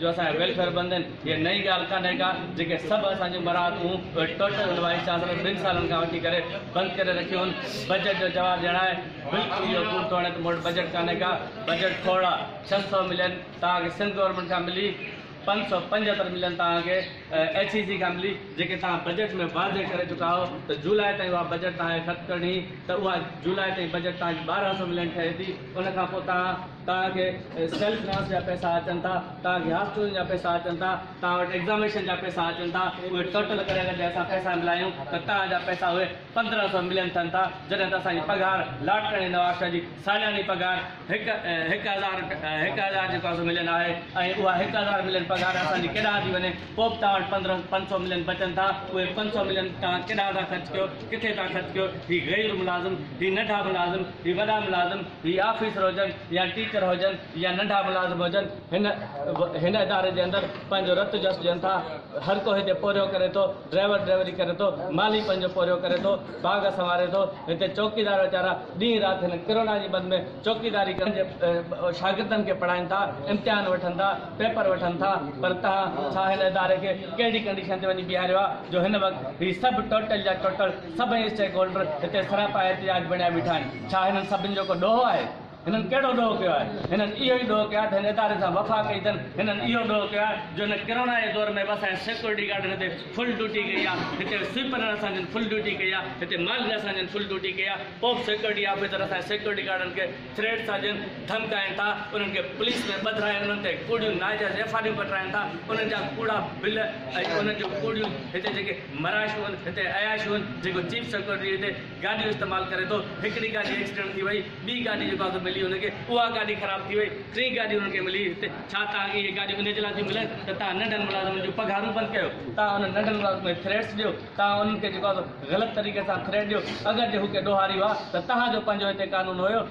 جو اسان جا ويلفيئر بند آهن هيء نئين ڳالهه ڪانهي ڪا جيڪي سڀ اسان جون مراعتون ٽوٽل هن وائيس چانسلر ٻن سالن کان وٺي ڪري بند ڪري رکيون هن بجيٽ جو جواب ڏيڻ آهي بلڪل اهو ڪوڙ ٿو هڻي ته مون وٽ بجيٽ ڪانهي ڪا بجيٽ کوڙا ڇهه سؤ ملين توهان کي سنڌ گورنمينٽ کان ملي پنج سؤ پنجهتر ملين توهان کي ايڇ اي سي کان ملي جيڪي توهان بجيٽ ۾ واضح ڪري چڪا هو ته جولاء تائين اها بجيٽ توهان کي خرچ ڪرڻي ته اها جولاء تائين بجيٽ توهان جي ٻارهن سؤ ملين ٺهي ٿي ان کان پوء توهان توهان کي سيلف فنانس جا پئسا اچن ٿا، توهان کي هاف ٽيوشن جا پئسا اچن ٿا، توهان وٽ ايگزامينشن جا پئسا اچن ٿا، اهي ٽوٽل ڪري اگر جي اسان پئسا ملايون ته توهان جا پئسا اهي پندرهن سؤ ملين ٿين ٿا، جڏهن ته اسان جي پگهار لاڙڪاڻي نوابشاهه جي سالياني پگهار هڪ هڪ هزار هڪ هزار جيڪو سو ملين آهي ۽ اها هڪ هزار ملين پگهار اسان جي ڪيڏانهن ٿي وڃي، پوء به توهان وٽ پندرهن پنج سؤ ملين بچن ٿا، اهي پنج سؤ ملين توهان ڪيڏانهن ٿا خرچ ڪيو، ڪٿي ٿا خرچ ڪيو، هي غير ملازم، هي ننڍا ملازم، هي وڏا ملازم، هي آفيسر هجن يا ٽيچر هجن يا ننڍا ملازم هجن هن هن اداري جي اندر پنهنجو رت جس ڏين ٿا هرڪو هتي پورهيو ڪري ٿو ڊرائيور ڊرائيوري ڪري ٿو مالهي پنهنجو پورهيو ڪري ٿو باغ سنواري ٿو هتي چوڪيدار ويچارا ڏينهن رات هن ڪرونا جي بند ۾ چوڪيداري ڪري پنهنجي شاگردن کي پڙهائين ٿا امتحان وٺن ٿا پيپر وٺن ٿا پر تهان ڇا هن اداري کي ڪهڙي ڪنڊيشن تي وڃي بيهاريو آهي جو هن وقت هي سڀ ٽوٽل جا ٽوٽل سڀئي اسٽيڪ هولڊر هتي سراپا احتجاج بڻيا بيٺا آهن ڇا هنن سڀن جو ڪو ڏوهه آهي؟ هنن ڪهڙو ڏوهه ڪيو آهي؟ هنن اهو ئي ڏوهه ڪيو آهي ته هن اداري سان وفا ڪئي اٿن. هنن اهو ڏوهه ڪيو آهي جو هن ڪرونا جي دور ۾ به اسان جي سيڪيورٽي گارڊن هتي فل ڊيوٽي ڪئي آهي. هتي سوئيپرن اسان جن فل ڊيوٽي ڪئي آهي. هتي مالڪن اسان جن فل ڊيوٽي ڪئي آهي. پوء به سيڪيورٽي آفيسر اسان جي سيڪيورٽي گارڊن کي ٿريٽ ٿا ڏين، ڌمڪائين ٿا، انهن کي پوليس ۾ ٻڌرائي انهن تي ڪوڙيون ناجائز ايف آر ايون ڪٽرائين ٿا. انهن جا ڪوڙا بل ۽ انهن جون ڪوڙيون هتي جيڪي مراشيون هتي عياشيون جيڪو چيف سيڪيورٽي هتي گاڏيون استعمال ڪري ٿو هڪڙي گاڏي ايڪسيڊنٽ ٿي وئي ٻي گاڏي جيڪا هتي ملي ان کي اها گاڏي خراب ٿي وئي ٽين گاڏي انهن کي ملي هتي ڇا تان اهي گاڏيون ان جي لاء ٿيون ملن ته تان ننڍن ملازمن جون پگهارون بند ڪيو تان انهن ننڍن ملازمن کي ٿريٽس ڏيو تان انهن کي جيڪو غلط طريقي سان ٿريٽ ڏيو اگر جي هو ڪي ڏوهاري هئا ته تان جو پنهنجو هتي قانون هيو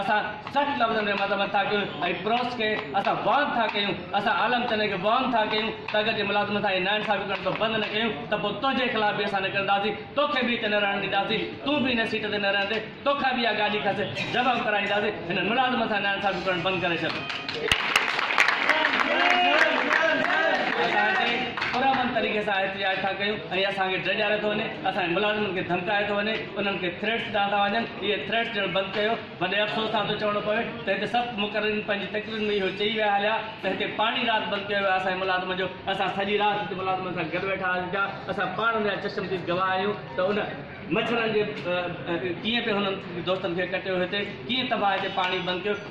اسان سخت لفظن ۾ مذمت ٿا ڪيون ۽ پروس کي اسان وارن ٿا ڪيون، اسان عالم چني کي وارن ٿا ڪيون ته اگر جي ملازمن سان اهي ناانصافيون ڪرڻ تون بند نه ڪيون ته پوء تنهنجي خلاف به اسان نڪرنداسين، توکي به هتي نه رهڻ ڏينداسين، تون به هن سيٽ تي نه رهندين، توکان به اها گاڏي کسي جمع ڪرائينداسين، هنن ملازمن سان ناانصافيون ڪرڻ بند ڪري ڇڏ. اسان هتي پرامن طريقي سان احتجاج ٿا ڪيون ۽ اسان کي ڊيڄاريو ٿو وڃي، اسان جي ملازمن کي ڌمڪايو ٿو وڃي، انهن کي ٿريٽس ڏانهن ٿا وڃن، اهي ٿريٽس ڏيڻ بند ڪيو، وڏي افسوس سان ٿو چوڻو پوي ته هتي سخت مقررين پنهنجي تقريرن ۾ اهو چئي ويا هليا ته هتي پاڻي رات بند ڪيو ويو آهي اسان جي ملازمن جو، اسان سڄي رات هتي ملازمن سان گڏ ويٺا هئاسين پيا، اسان پاڻ ان جا چشمديد گواهه آهيون ته ان مڇرن جي ڪيئن پئي هنن دوستن کي ڪٽيو هتي، ڪيئن تباهه هتي پاڻي بند ڪيو.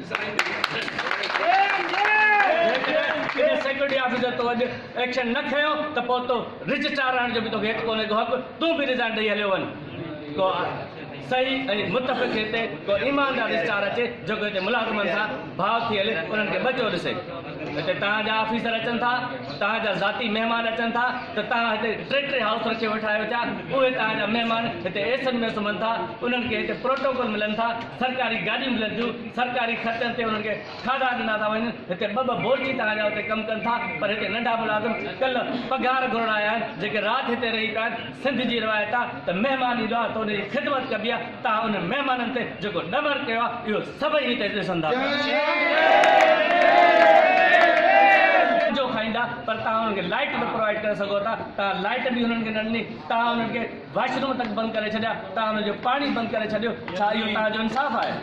جيڪڏهن ڪنهن سيڪيورٽي آفيسر تو اڄ ايڪشن نه کنيو ته پوء تو رجسٽرار رهڻ جو به توکي هت ڪونهي ڪو حق تون به ريزائن ڏئي هليو وڃ ڪو صحيح ۽ متفق هتي ڪو ايماندار رجسٽرار اچي جيڪو هتي ملازمن سان ڀاء ٿي هلي انهن کي ٻچو ڏسي هتي توهان جا آفيسر اچن ٿا توهان جا ذاتي مهمان اچن ٿا ته توهان هتي ٽي ٽي هائوس رکي ويٺا آهيو ڇا اهي توهان جا مهمان هتي ايسن ۾ سمهن ٿا انهن کي هتي پروٽوڪول ملن ٿا سرڪاري گاڏيون ملن ٿيون، سرڪاري خرچن تي انهن کي کاڌا ڏنا ٿا وڃن، هتي ٻه ٻه بورچي تان جا اتي ڪم ڪن ٿا پر هتي ننڍا ملازم ڪلهه پگهار گهرڻ آيا آهن جيڪي رات هتي رهي پيا آهن، سنڌ جي روايت آ ته مهمان ايندو آ ته ان جي خدمت ڪبي آ، تان انهن مهمانن تي جيڪو ڏمر ڪيو آ اهو سڀئي هتي ڏسن ٿا پيا. جو کائيندا پر تان انهن کي لائيٽ نه پروائيڊ ڪري سگهو ٿا، تان لائيٽ به انهن کي نه ڏني، تان انهن کي. واش روم تڪ بند ڪري ڇڏيا توهان انهن جو پاڻي بند ڪري ڇڏيو ڇا اهو توهان جو انصاف آهي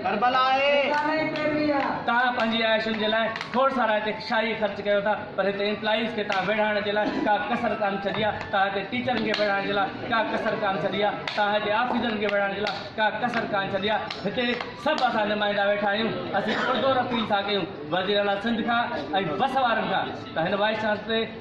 ڪربلا آهي توهان پنهنجي عياشين جي لاء کوڙ سارا هتي شاهي خرچ ڪيو ٿا پر هتي امپلائيز کي توهان ويڙهائڻ جي لاء ڪا ڪسر ڪانه ڇڏي آهي توهان هتي ٽيچرن کي ويڙهائڻ جي لاء ڪا ڪسر ڪانه ڇڏي آهي توهان هتي آفيسرن کي ويڙهائڻ جي لاء ڪا ڪسر ڪانه ڇڏي آهي هتي سڀ اسان نمائندا ويٺا آهيون اسين پرزور اپيل ٿا ڪيون وزيراعليٰ سنڌ کان ۽ بس وارن کان ته هن وائيس چانسلر تي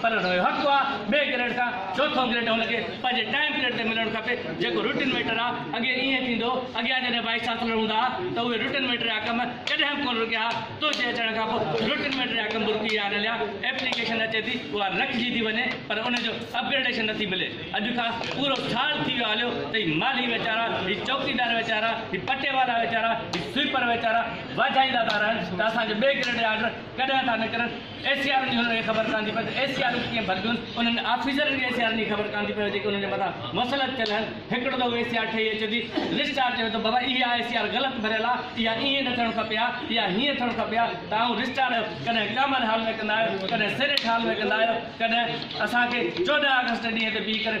پر ان جو حق آ ٻئي گريڊ کان چوٿون گريڊ هن کي پنهنجي ٽائيم پيريڊ تي ملڻ کپي جيڪو روٽين ميٽر آ اڳي ائين ٿيندو اڳيان جڏهن وائيس چانسلر هوندا ها ته اهي روٽين ميٽر جا ڪم ڪڏهن به ڪونه رڪيا ها تنهنجي اچڻ کان پوء روٽين ميٽر جا ڪم به رڪي ويا آهن هليا ايپليڪيشن اچي ٿي اها رکجي ٿي وڃي پر ان جو اپگريڊيشن نٿي ملي اڄ کان پورو سال ٿي ويو هليو ته هي مالهي ويچارا هي چوڪيدار ويچارا هي پٽي وارا ويچارا هي سويپر ويچارا واجهائيندا ٿا رهن ته اسان جو ٻئي گريڊ جا آرڊر ڪڏهن ٿا نڪرن اي سي آرن جي هنن کي خبر ڪانه ٿي پئي ته اي سي آرن ڪيئن ڀربيون، انهن آفيسرن کي اي سي آرن جي خبر ڪانه ٿي پئي جيڪي انهن جي مٿان مسلط ٿيل آهن، هڪڙو دفعو اي سي آر ٺهي اچي ٿي، رجسٽرار چوي ٿو بابا اها اي سي آر غلط ڀريل آ، اها ائين نه ٿيڻ کپي ها، اها هيئن ٿيڻ کپي ها، توهان رجسٽرار آهيو، ڪڏهن ڪامن هال ۾ ڪندا آهيو، ڪڏهن سينيٽ هال ۾ ڪندا آهيو، ڪڏهن اسان کي چوڏهن آگسٽ ڏينهن تي بيهي ڪري.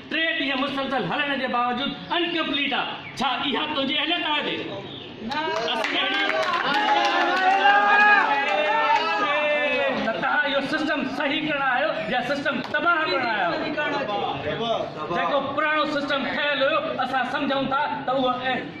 ٽي ڏينهن مسلسل هلڻ جي باوجود ان ڪمپليٽ آ ڇا اها تنهنجي اهليت آهي وي اسين اهڙي تهان اهو سسٽم صحيح ڪرڻ آهيو يا سسٽم تباهه ڪرڻ آهيا آهيو جيڪو پراڻو سسٽم ٺهيل هيو اسان سمجهون ٿا ته اهو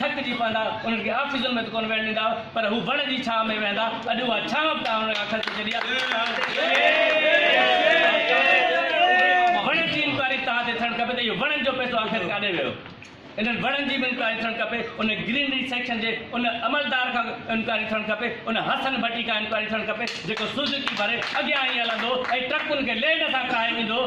ٿڪجي پوندا، انهن کي آفيسن ۾ ته ڪونه ويهڻ ڏيندا هئا، پر هو وڻ جي ڇانء ۾ ويهندا، اڄ اها ڇانء به توهان انهن کان کسي ڇڏي آهي، ۽ هاڻ ته اها وڻن جي انڪوائري توهان تي ٿيڻ کپي ته اهو وڻن جو پئسو آخر ڪاڏي ويو، انهن وڻن جي به انڪوائري ٿيڻ کپي، ان گرينري سيڪشن جي ان عملدار کان انڪوائري ٿيڻ کپي، ان حسن ڀٽي کان انڪوائري ٿيڻ کپي، جيڪو سوزوڪي ڀري اڳيان هي هلندو هو ۽ ٽرڪن کي لينڊ سان کاهي ويندو هو،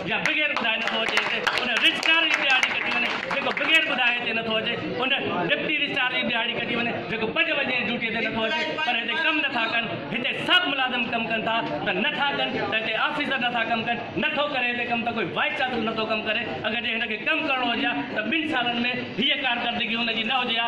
يا بغير ٻڌائي نه ٿو اچي اتي ان رجسٽرار جي ڏيهاڙي ڪٽي وڃي جيڪو بغير ٻڌائي اتي نه ٿو اچي ان ڊپٽي رجسٽرار جي ڏيهاڙي ڪٽي وڃي جيڪو پنج بجي جي ڊيوٽي تي نه ٿو اچي پر هتي ڪم نه ٿا ڪن هتي سڀ ملازم ڪم ڪن ٿا ته نه ٿا ڪن ته هتي آفيسر نه ٿا ڪم ڪن نه ٿو ڪري هتي ڪم ته ڪوئي وائيس چانسلر نه ٿو ڪم ڪري اگر جي هن کي ڪم ڪرڻو هجي ها ته ٻن سالن ۾ هيء ڪارڪردگي هن جي نه هجي ها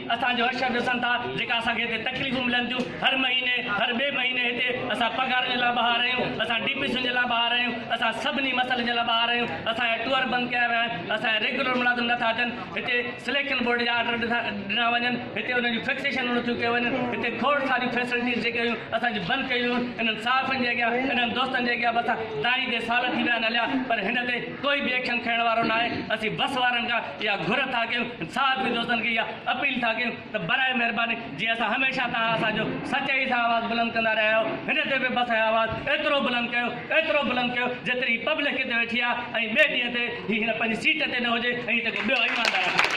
اسان جو حشر ڏسن ٿا جيڪا اسان کي هتي تڪليفون ملن ٿيون هر مهيني هر ٻئي مهيني هتي اسان پگهارن جي لاء ٻاهر آهيون اسان ڊي پي سين جي لاء ٻاهر آهيون اسان سڀني مسئلن جي لاء ٻاهر آهيون اسان جا ٽوئر بند ڪيا ويا آهن اسان جا ريگيولر ملازم نه ٿا اچن هتي سليڪشن بورڊ جا آرڊر ڏنا وڃن هتي انهن جون فڪسيشنون نٿيون ڪيون وڃن هتي کوڙ ساريون فيسلٽيز جيڪي هيون اسان جون بند ڪيون ويون انهن صحافين جي اڳيان انهن دوستن جي اڳيان به اسان دانهين تي سال ٿي ويا آهن هليا پر هن تي ڪوئي ٻي ايڪشن کڻڻ وارو ناهي، اسين بس وارن کان اها گهر ٿا ڪيون ۽ صحافي دوستن کي اها اپيل ٿا ڪيون ته براء مهرباني جيئن اسان هميشه توهان اسان جو سچائي سان آواز بلند ڪندا رهيا آهيو هن تي به بس ۽ آواز ايترو بلند ڪيو ايترو بلند ڪيو جيتري هي پبلڪ هتي ويٺي آهي ۽ ٻئي ڏينهن تي هي هن پنهنجي سيٽ تي نه هجي ۽ هتي ڪو ٻيو ايماندار